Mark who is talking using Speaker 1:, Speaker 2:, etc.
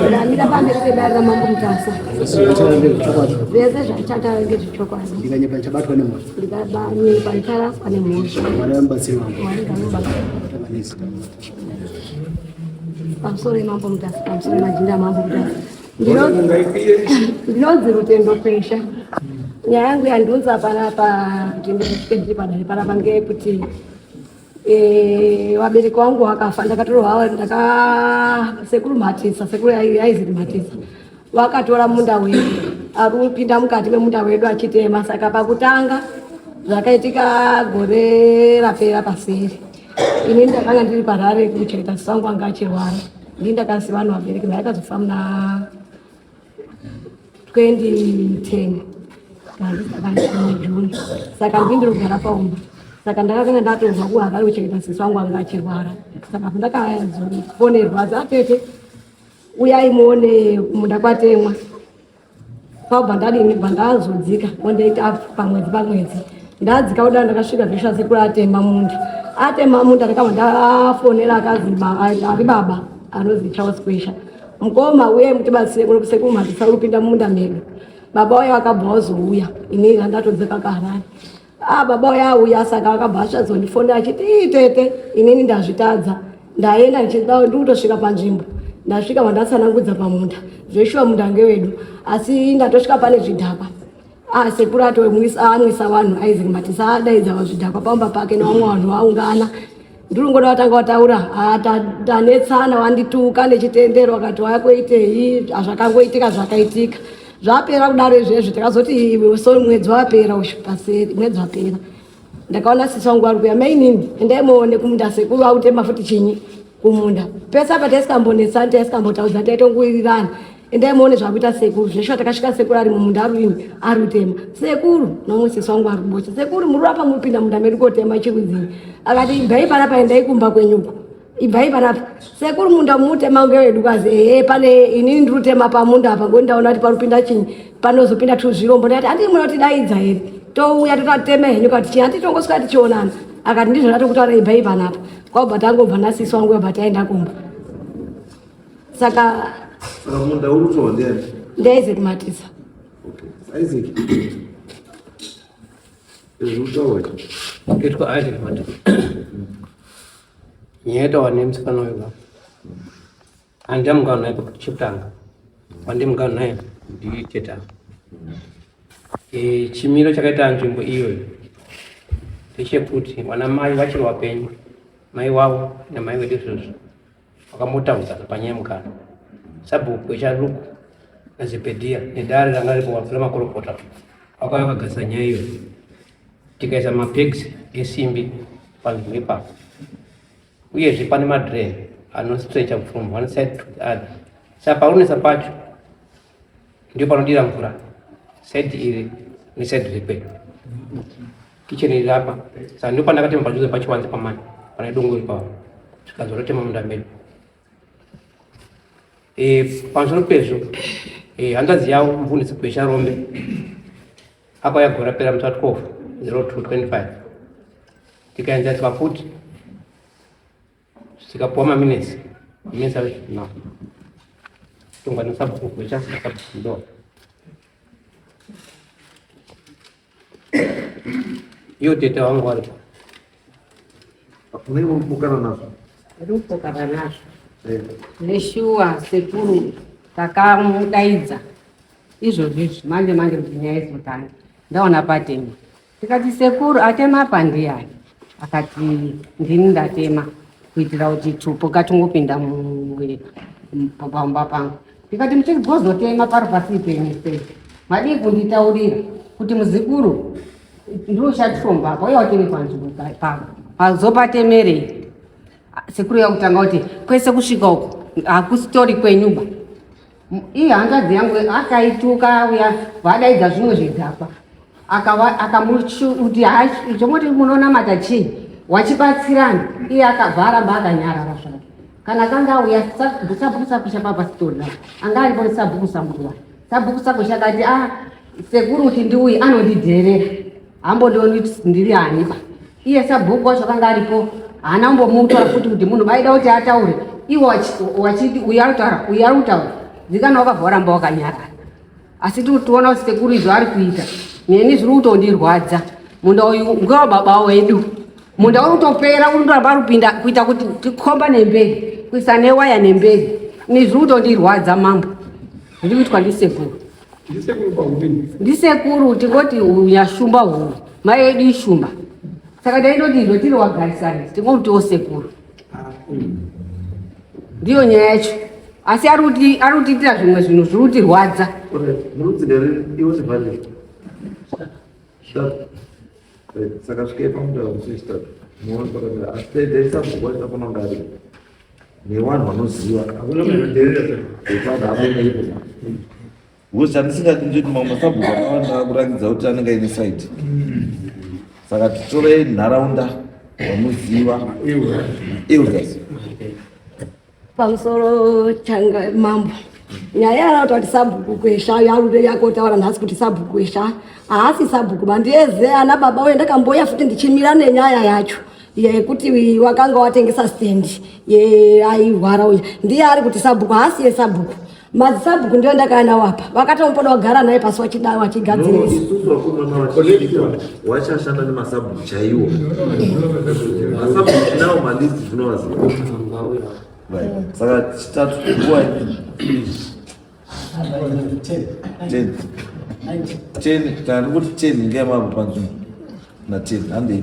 Speaker 1: ndamira pamberi pedare ramambo mutasa zvese zvachataura ngezvechokwadi ndikanyepa ndichabatwa
Speaker 2: nemhosva ndikanyepa
Speaker 1: ndicharaswa nemhosva mwari vamubatsiri wangu
Speaker 2: mwari vamubatsiri
Speaker 1: pamusoro yemambo mutasa pamusoro majinda amambo mutasa ndinonzi rutendo pesha nyaya yangu yandiunza panapa kuti ndiri padare panapa ngeyekuti Eh, vabereki wangu wakafa ndakatorohwa ndaka sekuru mhatisa sekuru yaiziri mhatisa vakatora munda wedu aripinda mukati memunda wedu achitema saka pakutanga zvakaitika gore rapera paseri ini ndakanga ndiri parare kuchengeta sisangu anga achirwara ndii ndakasiva vanhu vabereki ndaakazofa muna 2010 june saka ndindiri kugara paumba saka ndakakanga ndatonzwa kuva vari kuchengeta sisi wangu anga achirwara saka ndakazofonerwa zatete uyai muone kumunda kwatemwa kwabva ndadini bva ndazodzika ondaita pamwedzi pamwedzi ndadzika kudai ndakasvika zvisha sekuru atema munda atema munda ndakabva ndafonera akazi ari baba anozi charles kwesha Mkoma uye mutibatsire kuno kusekuru mabvisa kupinda mumunda medu. Baba uya akabva wazouya ini randatodzeka kaharari. Ah baba uya auya saka akabva asvadzondifonera achiti ii tete inini ndazvitadza ndaenda ndichida ndikutosvika panzvimbo ndasvika vandatsanangudza pamunda zveshuwa munda ngewedu asi ndatosvika pane zvidhakwa Ah, sekuru ato anwisa vanhu isaac matisa adaidza vazvidhakwa pamba pake nevamwe vanhu vaungana ndiri ngoda vatanga vataura ah, tanetsana vandituka nechitendero vakati waya kuitei ah, zvakangoitika zvakaitika zvapera kudaro izvezvi takazoti sori mwedzi wapera ushu paseri mwedzi wapera ndakaona sisi wangu ari kuya mainini endai muone kumunda sekuru vakutema futi chinyi kumunda pese apa taisikambonesani taisikambotaudza taitonguirirana endai muone zvakuita sekuru zveshuwa takasvika sekuru ari mumunda aruini ari kutema sekuru nomwe sisi wangu ari kubocha sekuru muri apa muripinda munda medu kotema chirudzinyi akati ibvai panapa endai kumba kwenyuko ibvai panapa sekuru munda mutema ngewedu kwazi ehe pane inini ndiri kutema pamunda apa ngoti ndaona kuti panopinda chinyi panozopinda tuzvirombo ndikati handii munotidaidza here touya totatema henyu kati chii handii tongosvika tichionana akati ndizvo ndatokutaura ibvai panapa kwakubva tangobva nasisi wangu yobva taenda kumba saka munda uri
Speaker 3: kutorwa ndiani ndiisaac matisa isaac ezvekutaura itwa
Speaker 4: isaac matisa nyaya yataura nemusikana uyu baba handida mungano naye baba chekutanga wandi mungano naye ndiye cheta eh, chimiro chakaita nzvimbo iyoyo ndechekuti vana mai vachiri vapenyu mai wavo namai vedu izvozvo vakambotambudzana panyaya mukana sabhuku echaluku nazipedhiya nedare ranga ripo vapfira makorokota vakauya vakagadzisa nyaya iyoyo tikaisa mapegs esimbi panzvimbo ipapo uyezve pane madren anostretcha from one side to the other sa paunesa pacho ndio panodira mvura side iri neside iri pedu kichen iri apa sa ndio pandakatema pajuze pachiwanze pamani pane dongo ipapo zvikazorotema munda medu e, pamusoro pezvo e, hanzvadzi yavo mvundisi gwesha rombe apa yagora pera musi wa 12 0225 tikaenzaniswa futi tikapuwa maminesi minesi ave no tongwa nesabhuku kuita sabhuku ndo iyo tete wangu waripo unenge
Speaker 3: ukukana nazvo ari kupokana
Speaker 5: nazvo eh. neshuwa sekuru takamudaidza izvozvi izvi manje manje kuti nyaya izotanga ndaona patema tikati sekuru atema apa ndiyani akati ndini ndatema kuitira kuti tupo katungopinda pamba pangu ndikati muchigozotema pari pasi penyu sei madii kunditaurira kuti muzikuru ndiuchatifomba apa uye watene panzvimbo pavo pazopatemerei sekuru yakutanga kuti kwese kusvika uko hakusitori kwenyuba Iyi hanzvadzi yangu akaituka uya vadaidza zvimwe zvidhakwa akamuti zvomoti munonamata chii wachibatsirana iye akabva aramba akanyarara zvake kana kanga auya sabhuku sako chapapasitona anga aripo nesabhuku samuruwa sabhuku sako chakati a ah, sekuruti ndiuyi anondidherera hambondioni ndiri anipa iye sabhuku wacho akanga aripo haana kumbomutora futi kuti munhu vaida kuti ataure iwo wachiti uyu arikutaura uyu ari kutaura dzikana wakabva waramba wakanyara asi tiri kutiona kuti sekuru izvo ari kuita neni zviri kutondirwadza munda uyu ngewa baba wedu munda uri kutopera uri ndoramba ari kupinda kuita kuti tikomba nemberi kuisa newaya nemberi ni zviri kutondirwadza mambo zviri kuitwa ndisekuru ndisekuru tingoti unyashumba huu mai yedu ishumba saka taidodizwa tiri wagarisani tingomutiwo sekuru ndiyo nyaya yacho asi ari kutiitira zvimwe zvinhu zviri kutirwadza
Speaker 3: saka svikepa mudavusista muoni pakamira asi teedzaisakugoisa kunongariwa nevanhu vanoziva hakuna munhu anoderera zvekwana akoneikona ngozi handisingati ndiri mamwe masabhuku akawanda akurakidza kuti anenge aine saidi saka titorei nharaunda vamuziva elders
Speaker 1: pamusoro changa mambo nyaya yarakuta kuti sabhuku kwesha yarude yakotaura nhasi kuti sabhuku kwesha haasi sabhuku mandieze ana baba uye ndakamboya futi ndichimira nenyaya yacho iya yekuti wakanga watengesa stand airwara uya ndiye ari kuti sabhuku haasiye sabhuku madzisabhuku ndiyo ndakaya nawo apa vakatomupoda wagara naye pasi wachidai wachigadzirisa
Speaker 3: wachashanda nemasabhuku chaiwo masabhuku nawo malisti zvinowaziva saka chitatu Tani kuti teni ngeyamapo panzvimbo na teni handei